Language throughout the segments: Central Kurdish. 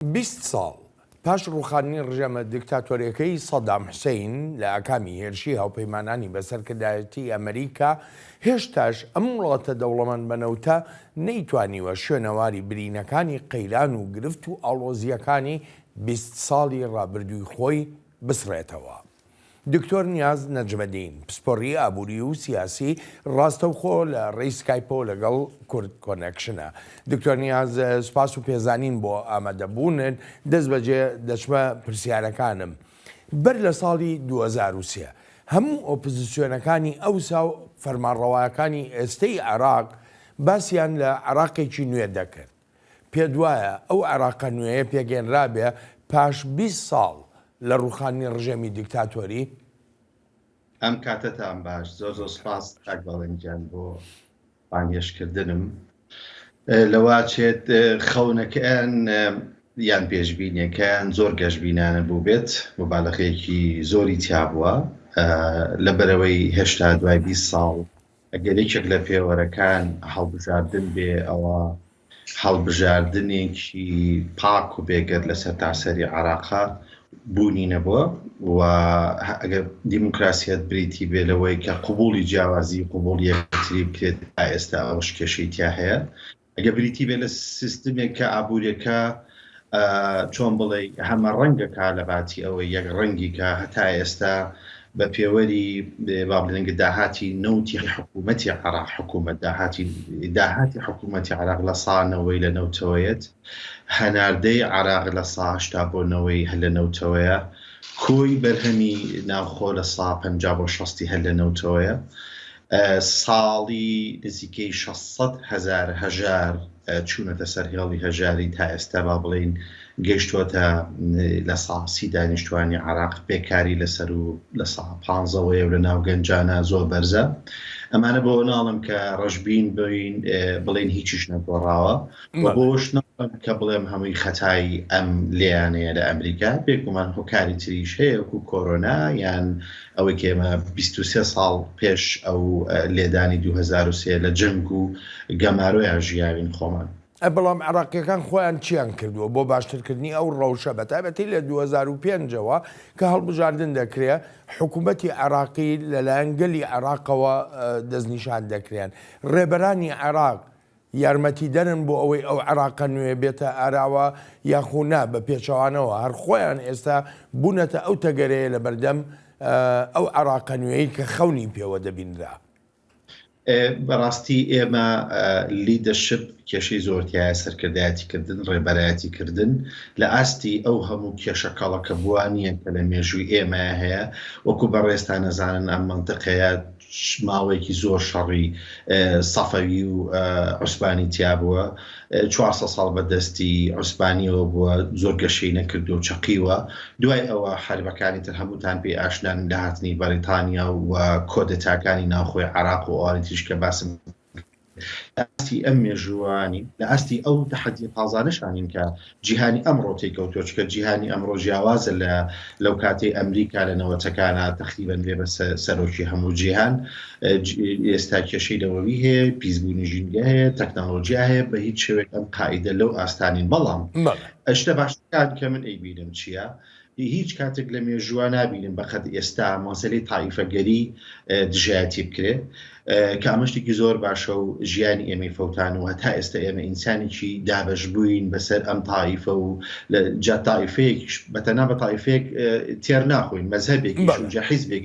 بیست ساڵ پاش ڕووخاندنی ڕژێمە دیکتاتۆرەکەی سەدام حسەین لە ئاکامی هێرشی هاوپەیمانانی بە سەرکردایەتی ئەمریکا، هێشتاش ئەم وڵاتە دەوڵەمەند بە نەوتە نەیتوانیوە شوێنەواری برینەکانی قەیران و گرفت و ئاڵۆزییەکانی بیست ساڵی ڕابردووی خۆی بسڕێتەوە. دکتۆر نیاز نەجمەدین، پسپۆڕی ئابووری و سیاسی، ڕاستەوخۆ لە ڕێی سکایپەوە لەگەڵ کورد کۆنێکشنە. دکتۆر نیاز، سپاس و پێزانین بۆ ئامادەبوونت. دەستبەجێ دەچمە پرسیارەکانم. بەر لە ساڵی دوو هەزار و سێ، هەموو ئۆپزسیۆنەکانی ئەوسا و فەرمانڕەوایەکانی ئێستەی عێراق، باسیان لە عێراقێکی نوێ دەکرد. پێت وایە ئەو عێراقە نوێیە پێگەێنرابێ پاش بیست ساڵ لە ڕووخاندنی ڕژێمی دیکتاتۆری؟ ئەم کاتەتان باش زۆر زۆر سوپاس کاک بەڵێن گیان بۆ بانگێش کردنم لەوا چێت خەونەکەیان یان پێشبینیەکەیان زۆر گەشببینانە بوو بێت مبالەخەیەکی زۆری تیابووە لەبەرەوەی هێشتا دوای 20 ساڵ ئەگەر یەکێک لە پێوەرەکان هەڵبژاردن بێ، ئەوا هەڵبژاردنێکی پاک و بێگەرد لە سەرتاسەری عێراقا بوونی نەبووە و ئەگەر دیموکراسیەت بریتی بێ لەوەی کە قبوڵی جیاوازی قبوڵ یەکتری بکرێت، تا ئێستا ئەوەش کێشەی تیا هەیە. ئەگەر بریتی بێت لە سیستمێک کە ئابووریەکە چۆن بڵێ هەمە ڕەنگەکە لە باتی ئەوەی یەک ڕەنگی کە هەتا ئێستا بە پێوەری با بڵنگە داهاتی نەوتی حکوومەتی عراق حکوومەت داهاتی داهاتی حکوومەتی عراق لە سانەوەی لە نەوتەوەیەت هەناردەی عراق لە ساهشتا بۆ نەوەی هەل لە نەوتەوەیە کۆی بەرهەمی ناوخۆ لە سا پ بۆ شستی هەل لە نەوتەوەیە ساڵی نزیکەی شەش سەد هەزار هەژار چوونەتە سەر هێڵی هەژاری تا ئێستا با بڵێین گەیشتووەتە لە ساسی دانیشتوانی عراق پێکاری لەسەر و لە سا پانزەوەیە لە ناو گەنجانە زۆر بەرزە ئەمانە بۆ ناڵم کە ڕژبین بین بڵێن هیچیش نەگۆڕاوە بۆش کە بڵێم هەمووی خەتایی ئەم لیانەیە لە ئەمریکا پێکمان هۆکاری تریش هەیە و کۆرۆنا یان ئەوەی کە ئێمە بیست و سێ ساڵ پێش ئەو لێدانی دوو هەزار و سێ لە جەنگ و گەمارۆیان ژیاوین خۆمان. ئەی بەڵام عێراقییەکان خۆیان چییان کردووە بۆ باشترکردنی ئەو ڕەوشە بە تایبەتی لە دوو هەزار و پێنج ەوە کە هەڵبژاردن دەکرێ حکوومەتی عێراقی لەلایەن گەلی عێراقەوە دەستنیشان دەکرێن ڕێبەرانی عێراق یارمەتیدەرن بۆ ئەوەی ئەو عێراقە نوێیە بێتە ئاراوە یاخو نا، بە پێچەوانەوە هەر خۆیان ئێستا بوونەتە ئەو تەگەرەیە لەبەردەم ئەو عێراقە نوێی کە خەونی پێوە دەبینرا. بەڕاستی ئێمە لیدەرشپ کێشەی زۆر تیایە، سەرکردایەتی کردن، ڕێبەرایەتی کردن لە ئاستی ئەو هەموو کێشە کەڵەکەبووانیە کە لە مێژووی ئێمە هەیە، وەکو بەڕێزتان ئەزانن ئەم مەنتقەیە ماوەیەکی زۆر شەڕی سەفەوی و عوسبانی تیا بووە چوارسە ساڵ بە دەستی عوسبانیەوە بووە زۆر گەشەی نەکردو و چەقیوە دوای ئەوە حربەکانی تر هەمووتان پێی ئاشنان لە هاتنی بەریتانیا و کۆدەتاکانی ناوخۆی عراق و ئەوانی تریش کە باسم لە ئاستی ئەم مێژووە نین، لە ئاستی ئەو تەحەدیە تازانەشا نین کە جیهانی ئەمڕۆ تێیکەوتووە، چونکە جیهانی ئەمڕۆ جیاوازە لە لەو کاتەی ئەمریکا لە نەوەتەکانا تەقریبەن بێ بە سەرۆکی هەموو جیهان ئێستا کێشەی نەوەوی هەیە، پیسبوونی ژینگە هەیە، تەکنەڵۆجیا هەیە، بە هیچ شێوەیەک ئەم قاعیدە لەو ئاستا نین، بەڵام شتە باشەکان کە من ئەیبینم چییە؟ هیچ کاتێک لە مێژووە نابینم بەقەد ئێستا مەسەلی تایفەگەری دژایەتی بکرێت کە ئەمەشتێکی زۆر باشە و ژیانی ئێمەی فەوتان و هەتا ئێستا ئێمە ئینسانێکی دابش بووین بەسەر ئەم تایفە و لە جاتایفێک بەتەنا بە تایفێک تێر ناخۆین مەزهبێک جە حیزبێک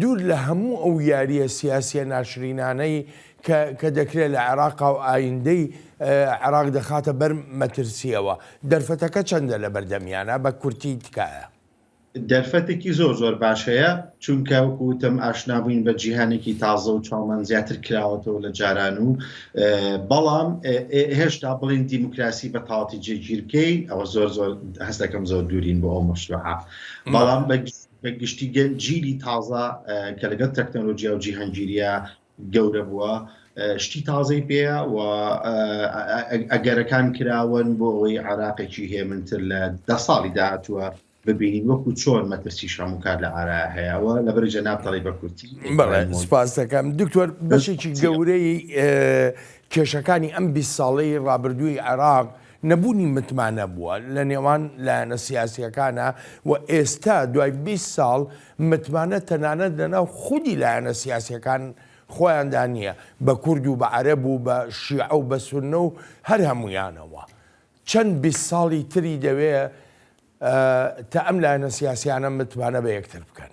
دوور لە هەموو ئەو یارییە سیاسییە ناشرینانەی کە کە دەکرێت لە عێراقا و ئایندەی عێراق دەخاتە بەر مەترسییەوە، دەرفەتەکە چەندە لەبەردەمیانە؟ بە کورتی تکایە. دەرفەتێکی زۆر زۆر باش هەیە، چونکە وەکو وتم ئاشنابووین بە جیهانێکی تازە و چاومان زیاتر کراوەتەوە لە جاران و بەڵام هێشتا بڵێین دیموکراسی بە تەواتی جێگیر بکەین ئەوە زۆر زۆر هەست دەکەم زۆر دوورین بۆ ئەو مەشروعە بەڵام بە گشتی بە گشتی جیلی تازە کە لەگەڵ تەکنەلۆجیا و جیهانگیریە گەورە بووە شتی تازەی پێەیە و ئەگەرەکان کراون بۆ ئەوەی عراقێکی هێمنتر لە دە ساڵی داهاتووە ببینین وەکو چۆن مەترسی شەمو کار لە ئارا هەیەەوە لە بەر جەناب تەڵی بە کورتی سپاس دەکەم دکتۆر بەشێکی گەورەی کێشەکانی ئەم 20 ساڵەی ڕابردووی عێراق نەبوونی متمانە بووە لە نێوان لایەنە سیاسییەکانا و ئێستا دوای بیست ساڵ متمانە تەنانەت لە ناو خودی لایەنە سیاسییەکان خۆیاندا نییە بە کورد و بە عەرەب و بە شیعە و بە سوننە و هەر هەموویانەوە چەند بیست ساڵی تری دەوێ تا ئەم لایەنە سیاسییانە متمانە بە یەکتر بکەن.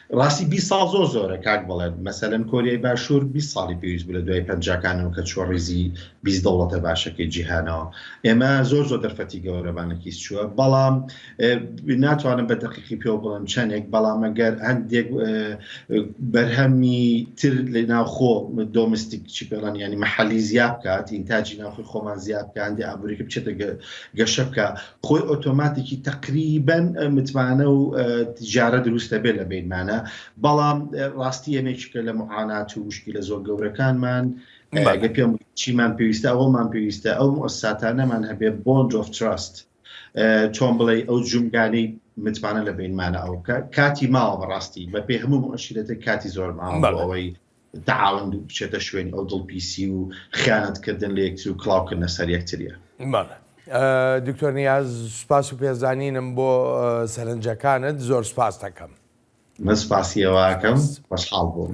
ڕاستی بی ساڵ زۆر زۆرە کاک بەڵێت مەسەلەن کۆریای باشوور بی ساڵی پێویست بوو لە دوای پەنجاکانەوە کە چوە ڕیزی بی دەوڵەتە باشەکەی جیهانەوە ئێمە زۆر زۆر دەرفەتی گەورەمانەکیس چووە بەڵام ناتوانم بە دەقیقی پێ بڵم چەندێک بەڵامەگەر هەندێک بەرهەمی تر لە ناوخۆ دۆمستیک چی پێڵان ینی مححلی زیاب بکات ئینتاجی ناوخی خۆمان زیاب کە هەندی ئابووریکە بچێتە گەشە بکە خۆی ئۆتۆماتیکی تقریبەن متمانە و تجارە دروستە بێت لە بینمانە بەڵام ڕاستی ئەمێکیکە لە معانات و وشکی لە زۆر گەورەکانمان گە پێم چیمان پێویستە ئەوەمان پێویستە ئەو ئەساتانەمان هەبێ بۆن جۆف تراست چۆن بڵێ ئەو جومگانەی متمانە لە بینمانە ئەو کاتی ماوە بەڕاستی بە پێ هەموو ئەشیرەتە کاتی زۆر ماوەەوەی تەعاون بچێتە شوێنی ئەو دڵپیسی و خیانەت کردن لە یەکتر و کڵاو کردنە سەر یەکتریە. بەڵێ دکتۆر نیاز سوپاس و پێزانینم بۆ سەرنجەکانت زۆر سوپاستەکەم. من سوپاسی ئێوەکەم خۆشحاڵ بووم.